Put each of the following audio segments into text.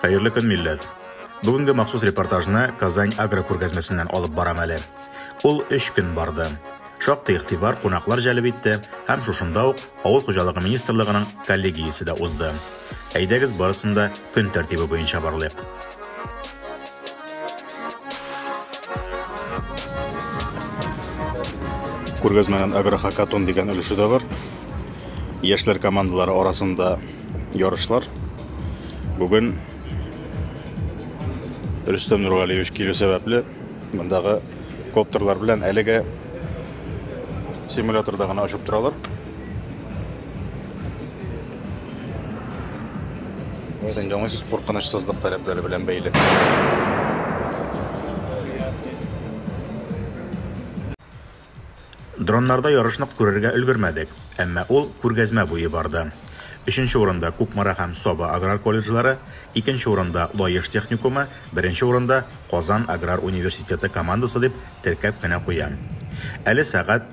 Хәерле көн, милләт! Бүгенге махсус репортажны Казань агро күргәзмәсеннән алып барам әле. Ул 3 көн барды. Шактый игътибар кунаклар җәлеп итте һәм шушында ук Авыл хуҗалыгы министрлыгының коллегиясе дә узды. Әйдәгез барысын да көн тәртибе буенча барлыйк. Күргәзмәнең агрохакатон дигән өлеше дә бар. Яшьләр командалары арасында ярышлар. Бүген Рөстәм Нургалиевич килү сәбәпле мондагы коптерлар белән әлегә симуляторда гына очып торалар. Сәнҗә уңай сүз куркынычсызлык таләпләре белән бәйле. Дроннарда ярышны күрергә өлгермәдек, әмма ул күргәзмә буе барды. Өченче урында Кукмара һәм Саба аграр колледжлары, икенче урында Лаеш техникумы, беренче урында Казан аграр университеты командасы дип теркәп кенә куям. Әле сәгать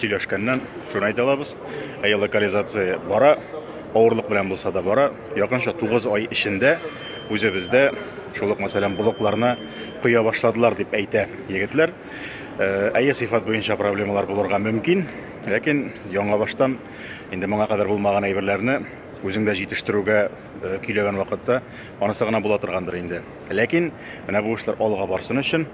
Сөйләшкәннән шуны әйтә алабыз. Әйе, локализация бара, авырлык белән булса да бара. Якынча 9 ай эчендә үзебездә шул ук мәсәлән блокларны коя башладылар дип әйтә егетләр. Э, әйе, сыйфат буенча проблемалар булырга мөмкин, ләкин яңа баштан инде моңа кадәр булмаган әйберләрне үзеңдә җитештерүгә Э, көйләгән вакытта анысы гына була торгандыр инде ләкин менә бу эшләр алга барсын өчен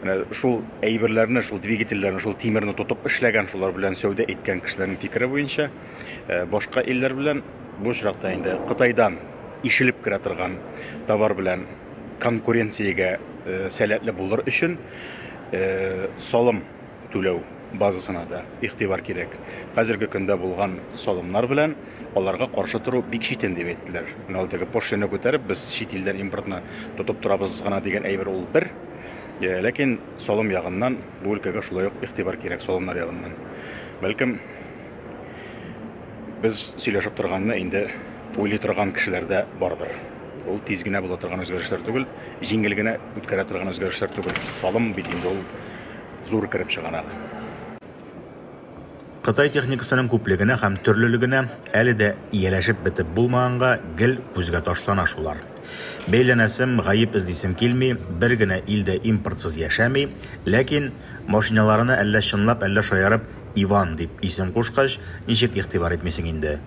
менә шул әйберләрне шул двигательләрне шул тимерне тотып эшләгән шулар белән сәүдә иткән кешеләрнең фикере буенча э, башка илләр белән бу очракта инде кытайдан ишелеп керә торган товар белән конкуренциягә э, сәләтле булыр өчен салым түләү базасына да игътибар кирәк. Хәзерге көндә булган салымнар белән аларга каршы тору бик читен дип әйттеләр. Менә ул теге пошлина күтәреп, без чит илдән импортны тотып торабыз гына дигән әйбер ул бер. Э, ләкин салым ягыннан бу өлкәгә шулай ук игътибар кирәк салымнар ягыннан. Бәлкем без сөйләшеп торганны инде уйлый торган кешеләрдә бардыр. Ул тиз генә була торган үзгәрешләр түгел, җиңел генә үткәрә торган үзгәрешләр түгел. Салым бит инде ул зур кереп чыгаралар. Кытай техникасының күплегенә һәм төрлелегенә әле дә ияләшеп бетеп булмаганга гел күзгә ташлана шулар. Бәйләнәсем, гаеп эзлисем килми, бер генә ил дә импортсыз яшәми, ләкин машиналарына әллә чынлап, әллә шаярып Иван дип исем кушкач, ничек игътибар итмисең инде.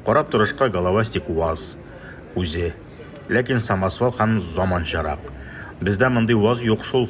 Карап торышка головастик УАЗ үзе, ләкин самосвал һәм заманчарак. Бездә мондый УАЗ юк шул.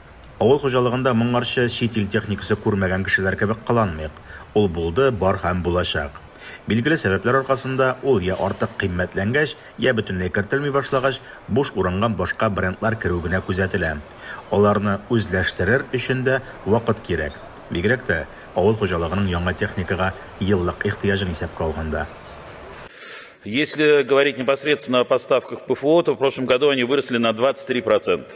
Авыл хуҗалыгында моңарчы чит ил техникасы күрмәгән кешеләр кебек кыланмыйк. Ул булды, бар һәм булачак. Билгеле сәбәпләр аркасында, ул я артык кыйммәтләнгәч, я бөтенләй кертелми башлагач, буш урынга башка брендлар керү генә күзәтелә. Аларны үзләштерер өчен дә вакыт кирәк, бигрәк тә авыл хуҗалыгының яңа техникага еллык ихтыяҗын исәпкә алганда. Если говорить непосредственно о поставках в ПФО, то в прошлом году они выросли на 23 процента.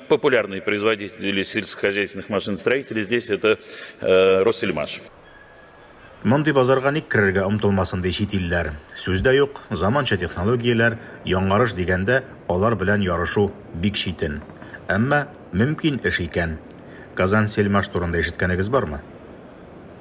Популярные производители сельскохозяйственных машиностроителей здесь это э, Россельмаш. Мондый базарга ник керергә омтылмасын ди чит илләр. Сүз дә юк, заманча технологияләр, яңарыш дигәндә, алар белән ярышу бик читен. Әмма мөмкин эш икән. Казансельмаш турында ишеткәнегез бармы?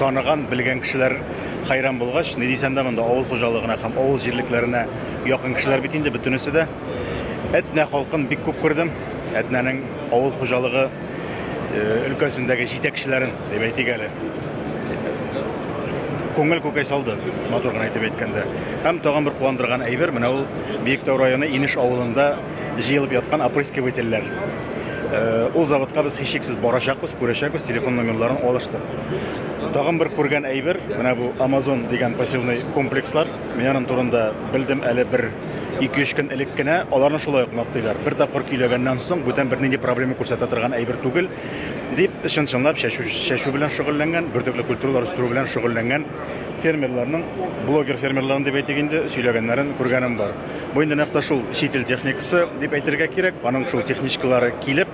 Таныган, белгән кешеләр хәйран булгач, ни дисәм дә монда авыл хуҗалыгына һәм авыл җирлекләренә якын кешеләр бит инде бөтенесе дә. Әтнә халкын бик күп күрдем. Әтнәнең авыл хуҗалыгы өлкәсендәге җитәкчеләрен, дип әйтик әле. Күңел күкәй салды, матур гына әйтеп әйткәндә. Һәм тагын бер куандырган әйбер, менә ул Биектау районы Инеш авылында җыелып яткан опрыскивательләр. Э, ул заводка без һичшиксез барачакбыз, күрәчәкбез, телефон номерларын алыштык. Тагын бер күргән әйбер, менә бу Amazon дигән пассивный комплекслар. Мин аның турында белдем әле бер 2-3 көн элек кенә. Аларны шулай ук мактыйлар. Бер тапкыр көйләгәннән соң бүтән бернинди проблема күрсәтә торган әйбер түгел, дип чын-чынлап чәчү, чәчү белән шөгыльләнгән, бөртекле культуралар үстерү белән шөгыльләнгән фермерларның, блогер фермерларын дип әйтик инде, сөйләгәннәрен күргәнем бар. Бу инде нәкъ шул чит ил техникасы дип әйтергә кирәк. Аның шул техничкалары килеп,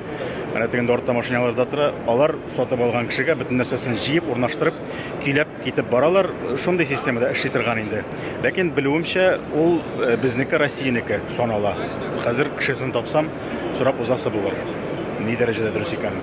менә тегендә артта машиналарда тора, алар сатып алган кешегә бөтен нәрсәсен җыеп, урнаштырып, көйләп китеп баралар. Шундый системада эшли торган инде. Ләкин белүемчә, ул э, безнеке Россиянеке санала. Хәзер кешесен тапсам, сорап узасы булыр. Ни дәрәҗәдә дөрес икән?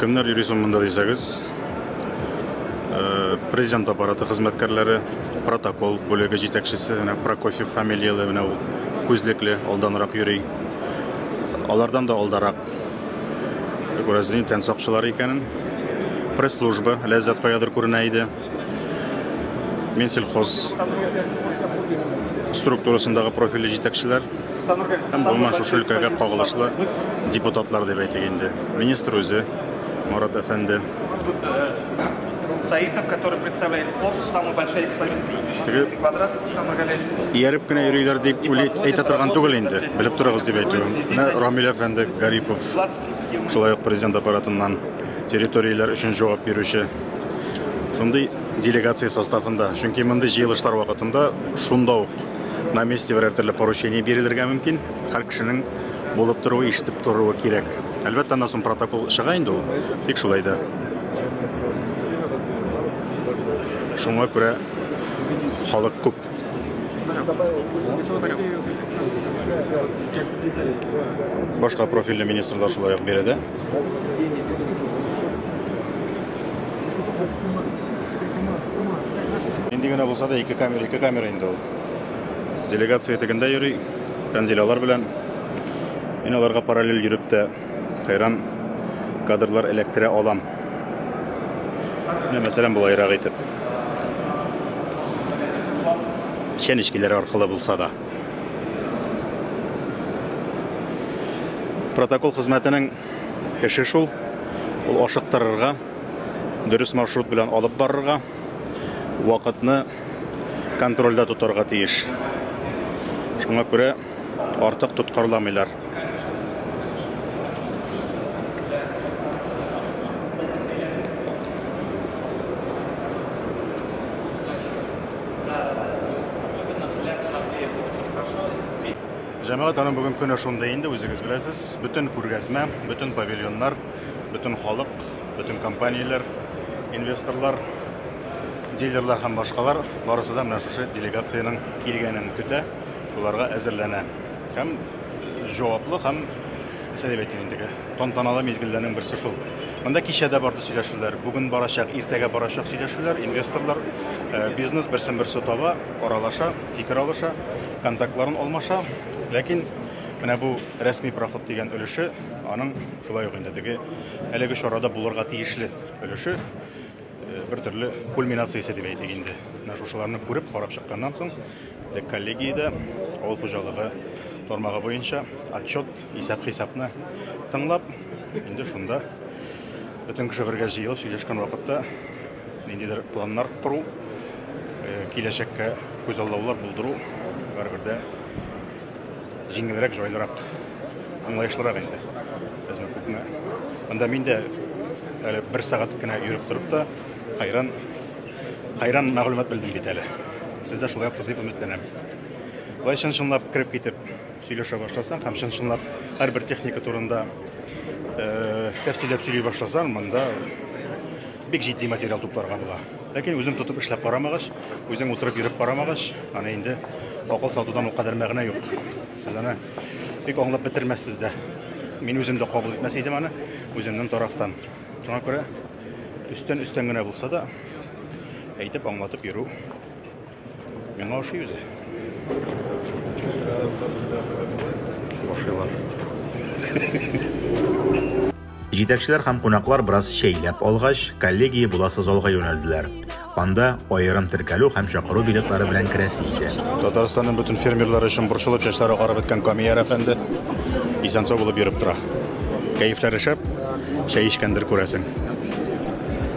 Кемнәр йөри соң монда дисәгез, э, президент аппараты хезмәткәрләре, протокол бүлеге җитәкчесе, менә Прокофьев фамилияле, менә ул күзлекле, алданрак йөри. Алардан да алдарак күрәсез, тән сакчылары икәнен. Пресс-служба Ләззәт каядыр күренә иде. Минсельхоз структурасындагы профильле җитәкчеләр һәм гомумән шушы өлкәгә кагылышлы депутатлар дип әйтик инде. Министр үзе Марат әфәнде. Саитов, который представляет Порш, самый большой экспозиция. Квадрат, Ияреп кенә йөриләр дип әйтә торган түгел инде. Белеп торыгыз дип әйтүем. Менә Рамил әфәнде Гарипов. Шулай ук президент аппаратыннан территорияләр өчен җавап бирүче шундый делегация составында. Чөнки мондый җыелышлар вакытында шунда ук на месте берәр төрле поручение бирелергә мөмкин. Һәр кешенең булып торуы, ишетеп торуы кирәк. Әлбәттә, аннан соң протокол чыга инде ул. Тик шулай да. Шуңа күрә халык күп. Башка профильле министр да шулай ук биредә. Инде генә булса да ике камера, ике камера инде ул. Делегация тегендә йөри, Фәнзил алар белән. Мин аларга параллель йөреп тә хәйран кадрлар эләктерә алам. Менә мәсәлән болайрак итеп. Чәнечкеләр аркылы булса да. Протокол хезмәтенең эше шул. Ул ашыктырырга, дөрес маршрут белән алып барырга, вакытны контрольдә тотарга тиеш. Шуңа күрә артык тоткарламыйлар. Җәмәгать аның бүген көне шундый инде, үзегез беләсез. Бөтен күргәзмә, бөтен павильоннар, бөтен халык, бөтен компанияләр, инвесторлар, дилерлар һәм башкалар барысы да менә шушы делегациянең килгәнен көтә, шуларга әзерләнә. Һәм җаваплы һәм сәләт әйтим инде. Тантаналы мизгелләрнең берсе шул. Монда кичә дә барды сөйләшүләр, бүген барачак, иртәгә барачак сөйләшүләр, инвесторлар, э, бизнес берсен берсе таба, аралаша, фикер алыша, контактларын алмаша. Ләкин менә бу рәсми проход дигән өлеше, аның шулай ук инде теге әлеге чарада булырга тиешле өлеше бер төрле кульминациясе дип әйтик инде. Менә шушыларны күреп, карап чыкканнан соң, дек коллегиядә авыл хуҗалыгы тармагы буенча отчет, исәп-хисапны тыңлап, инде шунда бөтен кеше бергә җыелып сөйләшкән вакытта ниндидер планнар кору, э, киләчәккә күзаллаулар булдыру бер-бердә Җиңелрәк, җайлырак, аңлаешлырак инде. Безне күпме. Анда мин дә әле бер сәгать кенә йөреп торып та хайран хайран мәгълүмат белдем бит әле. Сез дә шулай дип өметләнәм. Болай чын-чынлап кереп китеп сөйләшә башласаң һәм чын-чынлап һәрбер техника турында э, тәфсилләп сөйли башласаң, монда бик җитди материал тупларга була. Ләкин үзең тотып эшләп карамагач, үзең утырып йөреп карамагач, аны инде акыл сатудан ул кадәр мәгънә юк. Сез аны бик аңлап бетермәссез дә. Мин үзем дә кабул итмәс идем аны үземнең тарафтан. Шуңа күрә өстән-өстән генә булса да әйтеп аңлатып йөрү Миңа ошый үзе. Ошыйлар. Җитәкчеләр һәм кунаклар бераз шәйләп алгач, коллегия буласы залга юнәлделәр. Анда аерым теркәлү һәм чакыру билетлары белән керәсе иде. Татарстанның бөтен фермерлары өчен борчылып чәчләре агарып беткән Камияр әфәнде исән-сау булып йөреп тора. Кәефләре шәп, чәй эчкәндер күрәсең.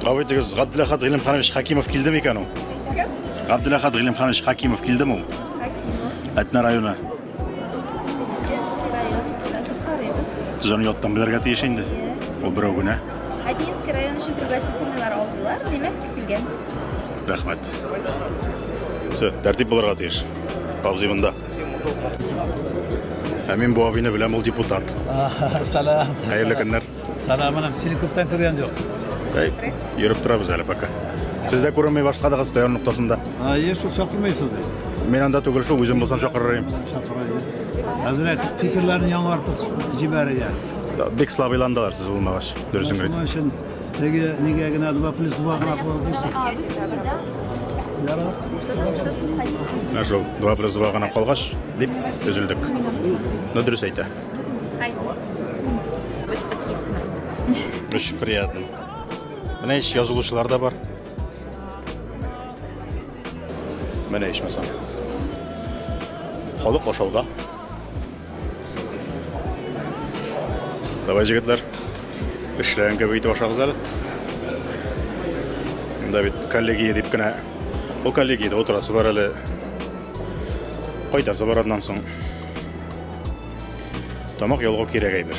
Кавы итегез, Габдуләхат Гыйлемханович Хакимов килдеме икән ул? Габдуләхат Гыйлемханович Хакимов килдеме ул? Әтнә районы. Сез аны яттан белергә тиеш инде. Ул берәү генә. Одинский район өчен пригласительныйлар алдылар, димәк, килгән. Рәхмәт. Все, тәртип булырга тиеш. Абзый монда. Ә мин бу абыйны беләм, ул депутат. Сәлам. Хәерле көннәр. Сәлам, анам. Сине күптән күргән юк. Әй, йөреп торабыз әле пока. Сез дә күренмәй башладыгыз Таяр ноктасында. А, еш шул чакырмыйсыз бит. Мин анда түгел шул, үзем булсам чакырыр идем. Хәзрәт, фикерләрне яңартып җибәрә. Бик слабыйландылар сез булмагач, дөресен генә. Шуның өчен Теге нигә генә 2 плюс 2 гына куып бирсәк. Ә шул 2 плюс 2 гына калгач, дип өзелдек. Ну дөрес әйтә. Очень приятно. Менә ич язылучылар да бар. Менә ичмасам. Халык ашауда. Давай, җегетләр, эшләгән кебек итеп ашагыз әле. Монда бит коллегия дип кенә, ул коллегиядә утырасы бар әле. Кайтасы бар аннан соң. Тамак ялгау кирәк әйбер.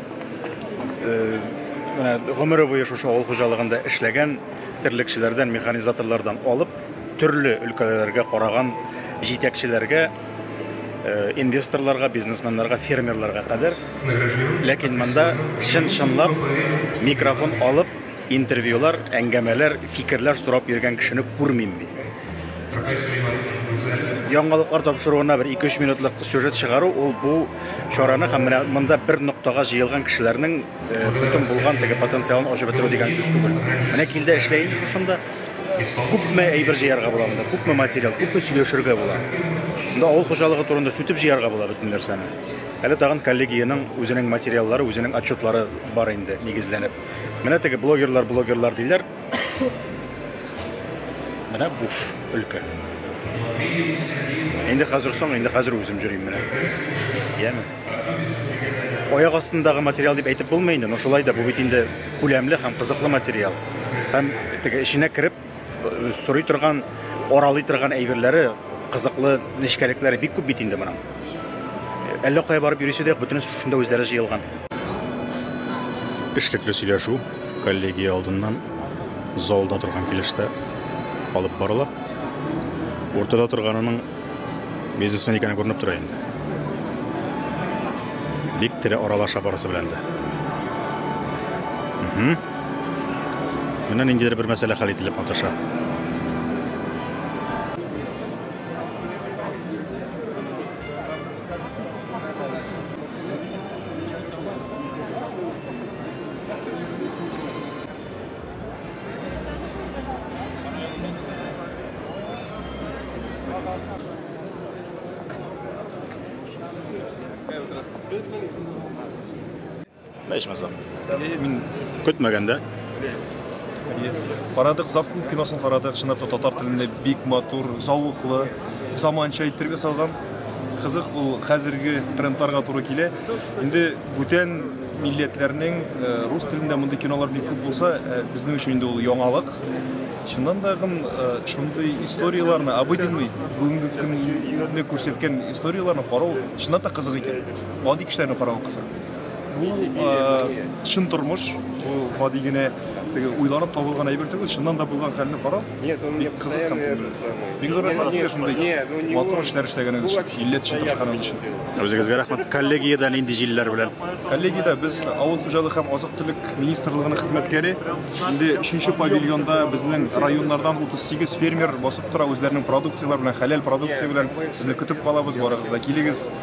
Э, менә гомере буе шушы авыл хуҗалыгында эшләгән терлекчеләрдән, механизаторлардан алып, төрле өлкәләргә караган җитәкчеләргә, э, инвесторларга, бизнесменнарга, фермерларга кадәр. Ләкин монда чын-чынлап микрофон алып Интервьюлар, әңгәмәләр, фикерләр сорап йөргән кешене күрмим мин. Яңалыклар тапшыруына бер ике-өч минутлык сюжет чыгару, ул бу чараны һәм менә монда бер ноктага җыелган кешеләрнең э, бөтен булган теге потенциалын ачып бетерү дигән сүз түгел. Менә кил дә эшлә инде шушында. Күпме әйбер җыярга була монда, күпме материал, күпме сөйләшергә була. Монда авыл хуҗалыгы турында сүтеп җыярга була бөтен нәрсәне. Әле тагын коллегиянең үзенең материаллары, үзенең отчетлары бар инде нигезләнеп. Менә теге блогерлар, блогерлар диләр. Менә буш өлкә. Инде хәзер соң, инде хәзер үзем җөрим менә. Яме. Аяк астындагы материал дип әйтеп булмый инде, но шулай да бу бит инде күләмле һәм кызыклы материал. Һәм теге эченә кереп Сорый торган, аралый торган әйберләре, кызыклы нечкәлекләре бик күп бит инде моның. Әллә кая барып йөрисе дә, бөтенесе шушында үзләре җыелган. Эшлекле сөйләшү коллегия алдыннан залда торган килештә алып барыла. Уртада торганының бизнесмен икәне күренеп тора инде. Бик тере аралаша барысы белән дә. Менә ниндидер бер мәсьәлә хәл ителеп маташа. Здравствуйте. Ичмасам. Э, мин көтмәгәндә. Карадык, Зав клуб киносын карадык, чынлап та татар телендә бик матур, зауыклы, заманча иттереп ясалган. Кызык ул хәзерге трендларга туры килә. Инде бүтән милләтләрнең э, рус телендә мондый кинолар бик күп булса, э, безнең өчен инде ул яңалык. Чыннан да гын э, шундый историяләрне, обыденный, бүгенге көнне күрсәткән историяләрне карау чыннан да кызык икән. Гади кешеләрне карау кызык. Бу э, чын тормыш, бу гади генә теге уйланып табылган әйбер түгел, чыннан да булган хәлне карап, Нет, он мне бик кызык һәм постоянно этот самый. бик зур рәхмәт сезгә шундый Нет, ну не матур он. эшләр эшләгәнегез Ну, өчен, вообще милләт өчен постоянно тырышканыгыз өчен. делает. Үзегезгә рәхмәт. Коллегиядә нинди җилләр белән? Коллегиядә без авыл хуҗалыгы һәм азык-төлек министрлыгының хезмәткәре. Инде 3 павильонда безнең районнардан 38 фермер басып тора, үзләренең продукцияләре белән, хәләл продукция белән. Сезне көтеп калабыз, барыгыз да килегез.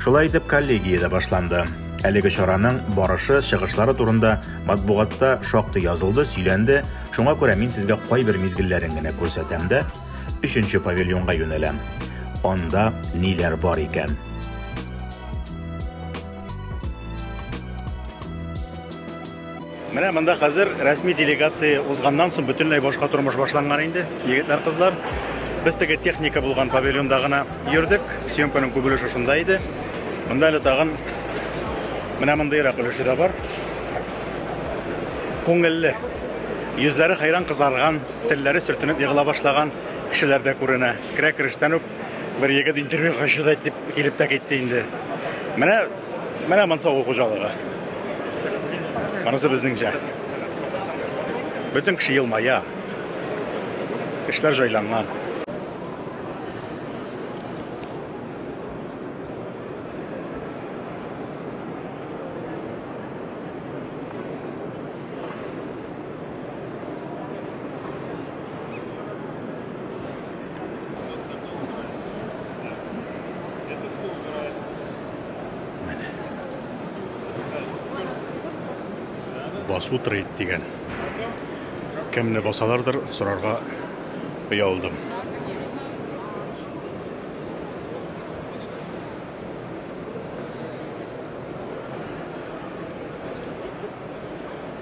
Шулай итеп, коллегия дә башланды. Әлеге чараның барышы, чыгышлары турында матбугатта шактый язылды, сөйләнде. Шуңа күрә мин сезгә кайбер мизгелләрен генә күрсәтәм дә, өченче павильонга юнәләм. Анда ниләр бар икән? Менә монда хәзер рәсми делегация узганнан соң бөтенләй башка тормыш башланган инде, егетләр, кызлар. Без теге техника булган павильонда гына йөрдек, съемканың күп өлеше шунда иде. Монда әле тагын менә мондыйрак өлеше дә бар. Күңелле. Йөзләре хәйран кызарган, телләре сөртенеп егыла башлаган кешеләр дә күренә. Керә керештән үк Бер егет интервью хочу да дип килеп тә китте инде. Менә менә монсы авыл хуҗалыгы. Монысы безнеңчә. Бөтен кеше елмая. Эшләр җайланган. басу трейд дигән кемне басалардыр сорарга оялдым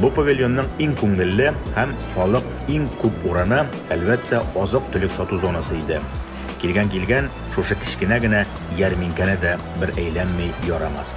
Бу павильонның иң күңелле һәм халык иң күп урыны, әлбәттә, азык-төлек сату зонасы иде. Килгән килгән, шушы кечкенә генә ярминкәне дә бер әйләнми ярамас.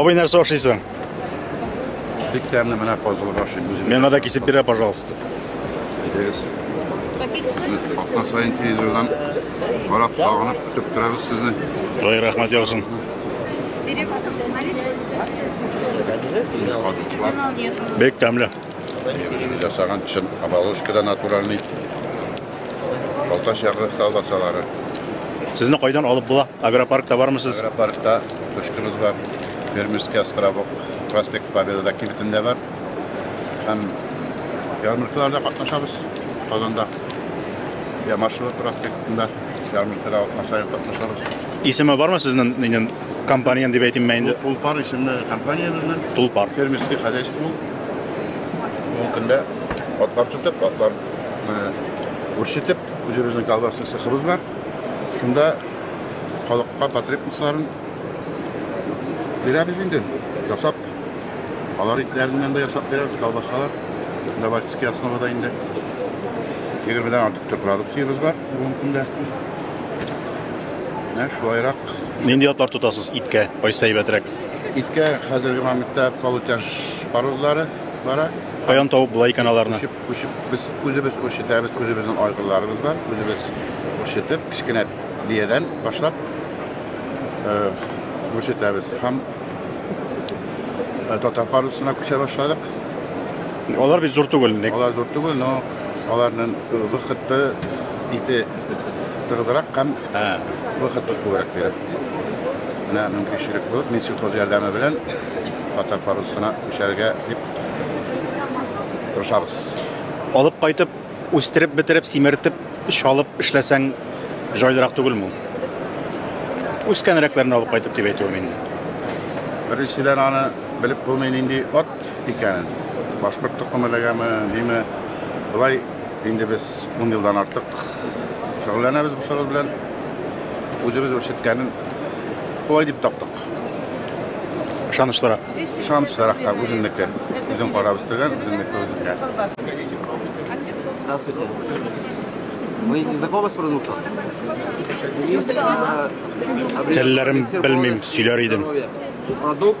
Абый нәрсә ашыйсың? Бик тәмле менә казылык ашыйм үзем. Миңа да кисеп бирә, пожалуйста. Әйдәгез. Атна сайын телевизордан карап сагынып көтеп торабыз сезне. Ой, рәхмәт яусын. Бик тәмле. Үзебез ясаган чын оболочкада натуральный Балтач ягы колбасалары. Сезне кайдан алып була? Агропаркта бармы сез? Агропаркта точкабыз бар. Фермерский островок, проспект Победа кибетендә бар. Һәм ярмаркаларда катнашабыз. Казанда я маршрут проспектында ярмаркада катнашабыз, катнашабыз. Исеме бармы сезнең нинен компаниянең дип әйтимме инде? Тулпар исемле компаниябезнең. Тулпар. Фермерский хозяйство. Бүгенге көндә атлар тотып, атлар үрчетеп, үзебезнең колбасны сыхыбыз бар. Шунда халыкка потребностьларын бирәбез инде. Ясап, алар итләреннән дә ясап бирәбез, колбасалар. Давальческий основада инде. Егермедән артык төр продукциябез бар бүгенге көндә. Менә шулайрак. Нинди атлар тотасыз иткә? Кайсы әйбәтрәк? Иткә хәзерге моментта полутяж парозлары бара. Каян табып була икән аларны? Күчеп, күчеп без үзебез үрчетәбез, үзебезнең айгырларыбыз бар, үзебез үрчетеп, кечкенә биядән башлап үрчетәбез һәм татар парусына күчә башладык. Алар бит зур түгел. Алар зур түгел, но аларның вакыты ите тыгызрак һәм Ә, вакыт бик күбрәк биреп. Менә мөмкинчелек булып, мин сельхоз ярдәме белән татар парусына күчәргә дип тырышабыз. Алып кайтып, үстереп, бетереп, симертеп, чалып эшләсәң, җайлырак түгелме ул? Үскәнрәкләрне алып кайтып дип әйтүем инде. Беренчедән аны белеп булмый нинди ат икәнен. Башкорт токымы ләгәме, ниме. Болай инде без ун елдан артык Шөгыльләнәбез бу шөгыль белән. Үзебез үрчеткәнен кулай дип таптык. Ышанычлырак. Ышанычлырак та үземнеке. Үзем карап үстергән, үземнеке үземгә. Здравствуйте. Вы не знакомы с продуктом? Телләрем белмим, сөйләр идем. Продукт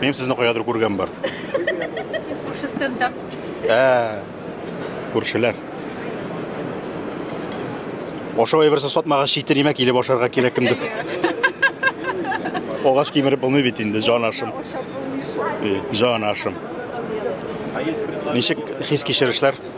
Минем сезне каядыр күргән бар. Күрше стендап. Ә, күршеләр. Ашау әйберсе сатмаган читер имә килеп ашарга кирәк кемдер. Огач кимереп булмый бит инде, җан ашым. Җан ашым. Ничек хис кичерешләр?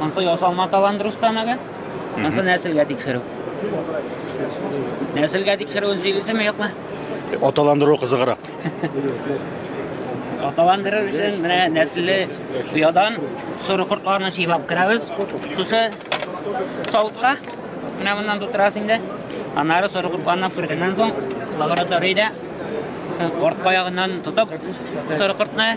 Ансы ясалма талант Рустамага. Ансы нәселгә тикшерү. Нәселгә тикшерүен сөйлисеме, юкмы? Аталандыру кызыграк. Аталандырыр өчен менә нәселле оядан соры кортларны чыйлап керәбез. Шушы савытка менә моннан тутырасыз инде. Аннары соры кортларны пүргәннән соң лабораториядә артка ягыннан тотып соры кортны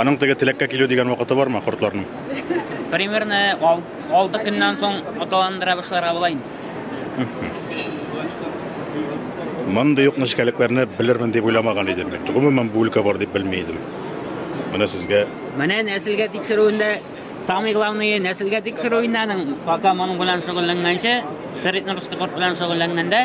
Аның теге теләккә килү дигән вакыты бармы кортларның? Примерно 6 көннән соң аталандыра башларга була инде. Мондый юк нечкәлекләрне белермен дип уйламаган идем. Гомумән бу өлкә бар дип белми идем. Менә сезгә. Менә нәселгә тикшерүендә самый главный нәселгә тикшерүендә аның пока моның белән шөгыльләнгәнче, среднерусский корт белән шөгыльләнгәндә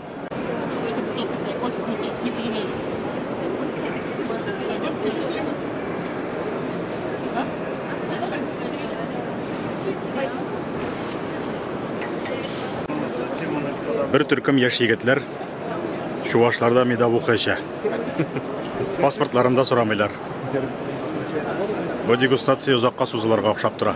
Бер төркем яшь егетләр чувашларда медовуха эчә. Паспортларын да сорамыйлар. Бу дегустация озакка сузылырга охшап тора.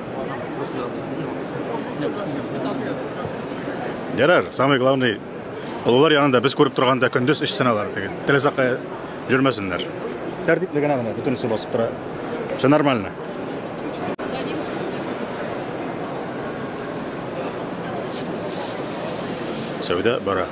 Ярар, самый главный олылар янында без күреп торганда көндез эш сыналар теге. Телесакка жүрмәсеннәр. Тәртипле генә генә бөтенесе басып тора. Все нормально. Сәүдә бара.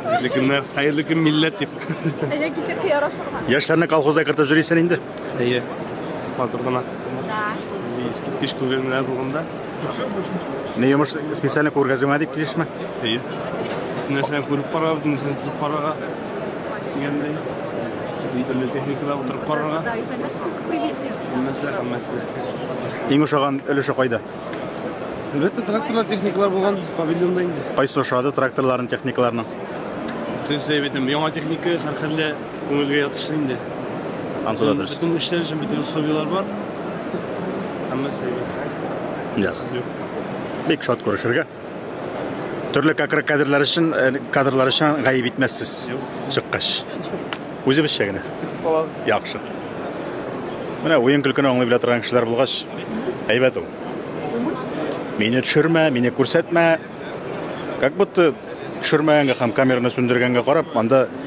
Хәерле көннәр, хәерле көн милләт дип. Әйе, китеп ярашырга. Яшьләрне колхозга кертеп җөрисен инде. Әйе. Хатыр гына. Да. Искиткеч күргәннәр булганда. Ни йомыш специально күргәзмә дип килешме? Әйе. Нәрсәне күреп карар, нәрсәне тотып карарга. Дигәндәй. Төрле техникада утырып карарга. Нәрсә һәммәсенә. Иң ошаган өлеше кайда? Әлбәттә, тракторлар, техникалар булган павильонда инде. Кайсы ошады тракторларның, техникаларның? Төз әйбәтем, яңа техника һәрхәллә күңелгә ятышлы инде. Ансуда дөрес. Бөтен эшләр өчен бөтен условияләр бар. Һәммәсе әйбәт. Яхшы. Бик шат күрешергә. Төрле кәкре кадрлар өчен, э, кадрлар өчен гаеп итмәссез. Чыккач. Үзебезчә генә. Яхшы. Менә уен көлкене аңлый белә торган кешеләр булгач, әйбәт ул. Мине төшермә, мине күрсәтмә. Как будто төшермәгәнгә һәм камераны сүндергәнгә карап, анда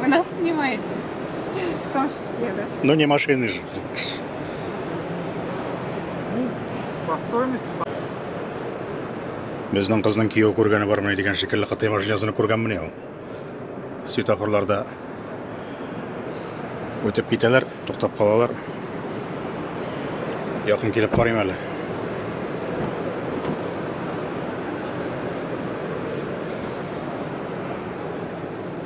Вы нас снимаете? В том числе, да? Ну не машины же. Ну, по стоимости... Безнең кызның кияү күргәне бармы дигән шикелле кытай машинасын күргәнмени ул? Светофорларда үтеп китәләр, туктап калалар. Якын килеп карыйм әле.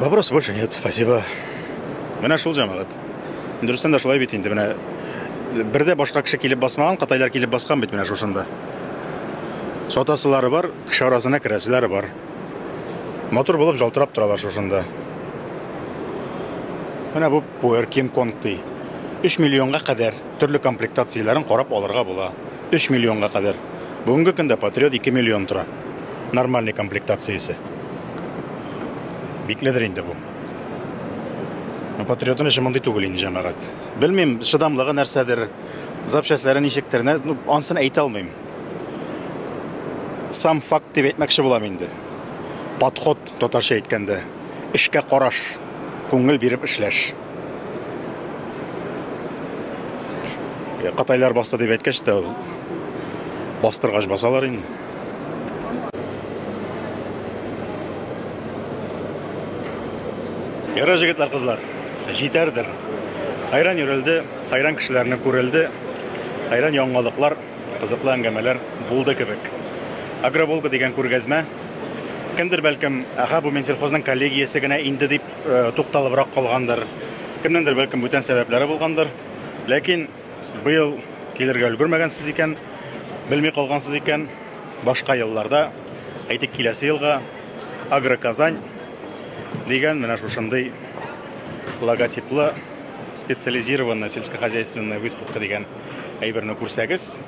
Вопрос больше нет, спасибо. Менә шул җәмәгать. Дөрестән дә шулай бит инде менә. Бердә башка кеше килеп басмаган, кытайлар килеп баскан бит менә шушында. Сатасылары бар, кеше арасына керәселәре бар. Мотор булып жалтырап торалар шушында. Менә бу Puer King Kong ди. 3 миллионга кадәр төрле комплектацияләрен карап алырга була. Өч миллионга кадәр. Бүгенге көндә Патриот ике миллион тора. Нормальный комплектациясе. Бикледер инде бу. Ну, Патриотын эше мондый түгел инде җәмәгать. Белмим, шыдамлыгы нәрсәдер, запчастлары ничектер, нә- ну, ансын әйтә алмыйм. Сам факт дип әйтмәкче булам инде. Подход, татарча әйткәндә, эшкә караш, күңел биреп эшләш. Катайлар баса дип әйткәч тә ул бастыргач басалар инде. Ярар җегетләр, кызлар, җитәрдер. Хайран йөрелде, хайран кешеләрне күрелде, хайран яңалыклар, кызыклы әңгәмәләр булды кебек. Агроволга дигән күргәзмә кемдер бәлкем, аха, бу Минсельхозның коллегиясе генә инде дип тукталыбрак калгандыр. Кемнеңдер бәлкем бүтән сәбәпләре булгандыр. Ләкин быел килергә өлгермәгәнсез икән, белми калгансыз икән, башка елларда, әйтик, киләсе елга Агроказань дигән менә шушындый логотиплы специализированная сельскохозяйственная выставка дигән әйберне күрсәгез,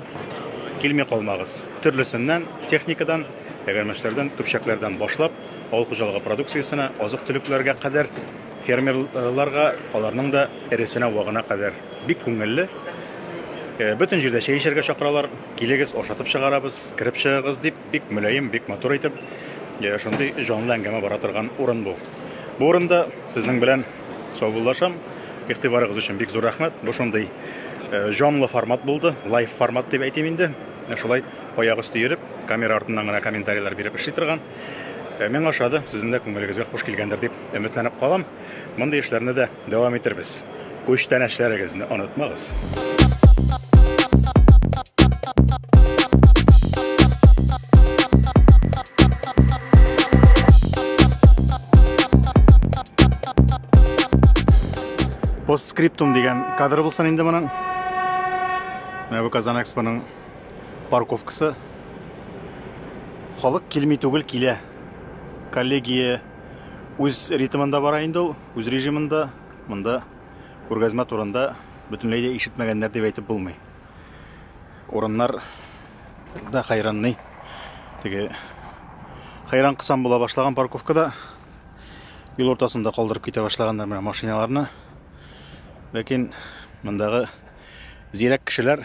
килми калмагыз. Төрлесеннән, техникадан, тәгәрмәчләрдән, көпчәкләрдән башлап, Авыл хуҗалыгы продукциясенә, азык-төлекләргә кадәр фермерларга, аларның да эресенә, вагына кадәр бик күңелле. Бөтен җирдә чәй эчәргә чакыралар, килегез, ашатып чыгарабыз, кереп чыгыгыз дип, бик мөлаем, бик матур итеп, шундый җанлы әңгәмә бара торган урын бу. Бу урында сезнең белән саубуллашам. Игътибарыгыз өчен бик зур рәхмәт. Бу шундый җанлы формат булды, лайв формат дип әйтим инде. Шулай аяк өсте йөреп, камера артыннан гына комментарийлар биреп эшли торган. Э, Мен ашады, сезнең дә күңелегезгә хуш килгәндер дип өметләнеп калам. Мондый эшләрне дә дәвам итербез. Күчтән эшләрегезне онытмагыз. Постскриптум дигән кадр булсын инде моның. Менә бу Казан Экспоның парковкасы. Халык килми түгел килә. Коллегия үз ритмында бара инде ул, үз режимында. Монда күргәзмә турында бөтенләй дә ишетмәгәннәр дип әйтеп булмый. Урыннар да хайранный. Теге хайран кысам була башлаган парковкада юл уртасында калдырып китә башлаганнар менә машиналарны. Ләкин мондагы зирәк кешеләр